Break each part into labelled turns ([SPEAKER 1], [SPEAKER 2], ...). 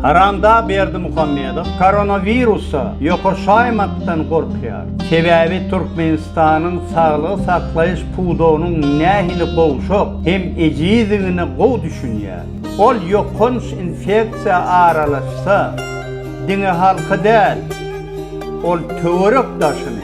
[SPEAKER 1] Haramdag Berdimuhamedow koronawirusa ýokaşaýmakdan gorkýar. Sebäbi Türkmenistanyň saglygy saklaýyş pudagynyň nähili gowşak hem ejizdigine gowy düşünýär. Ol ýokanç infeksiýa aralaşsa, diňe halky däl, ol töwerek daşyny,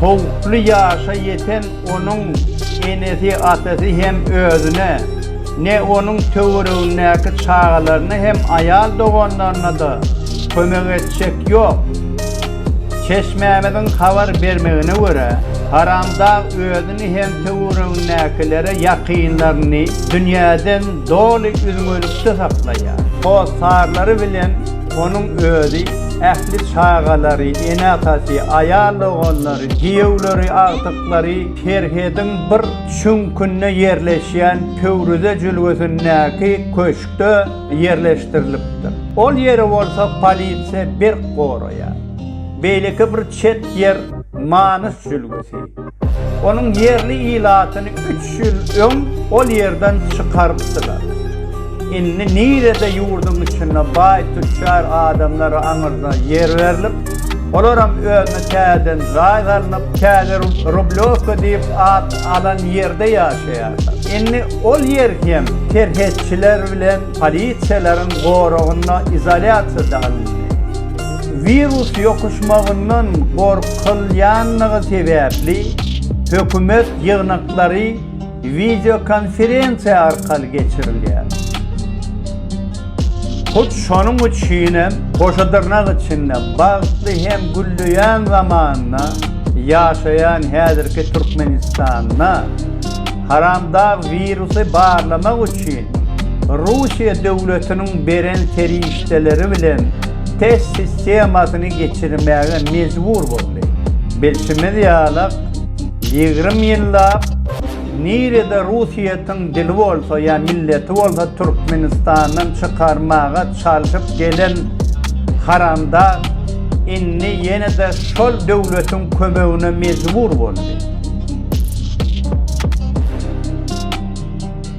[SPEAKER 1] Howply ýaşa ýeten onuň enesi-atasy hem özüne, ne onuň töweregindäki çagalaryna hem aýal doganlaryna-da kömek etjek ýok. Çeşmämiziň habar bermegine görä, Haramdag özüni hem töweregindäkilere ýakynlaryny dünýäden doly üzňelikde saklaýar. Hossarlary bilen Onuň özi, ähli çagalary, ene-atasy, aýal-doganlary, giýewleri, agtyklary serhediň bir çüňkünde ýerleşýän Pöwrize jülgesindäki köşkde ýerleşdirilipdir. Ol ýeri bolsa polisiýa berk goraýar. Beýleki bir çet ýer Manys jülgesi. Onuň ýerli ilatyny üç ýyl öň ol ýerden çykarypdylar. Indi nirede ýurduň içinde baý tüçjar adamlara aňyrda ýer berlip, olaram özüne täzeden jaý salnyp, täze Rublýowka diýip at alan ýerde ýaşaýarlar. Indi ol ýer hem serhetçiler bilen polisiýalaryň goragynda izolýasiýa alyndy. Wirus ýokuşmagyndan gorkulýandygy sebäpli, hökümet ýygnaklary wideokonferensiýa arkaly geçirilýär. Hut şonuň üçin hem goşa dyrnak içinde bagtly hem gülleýän zamanda ýaşaýan häzirki Türkmenistanda Haramdag wirusy barlamak üçin Russiýa döwletiniň beren serişdeleri bilen test sistemasyny geçirmäge mejbur boldy. Bilşimiz ýalak, ýigrimi ýyllap nirede russiýetiň dili bolsa ýa milleti bolsa Türkmenistandan çykarmaga çalşyp gelen haramdag indi ýene-de şol döwletiň kömegine mejbur boldy.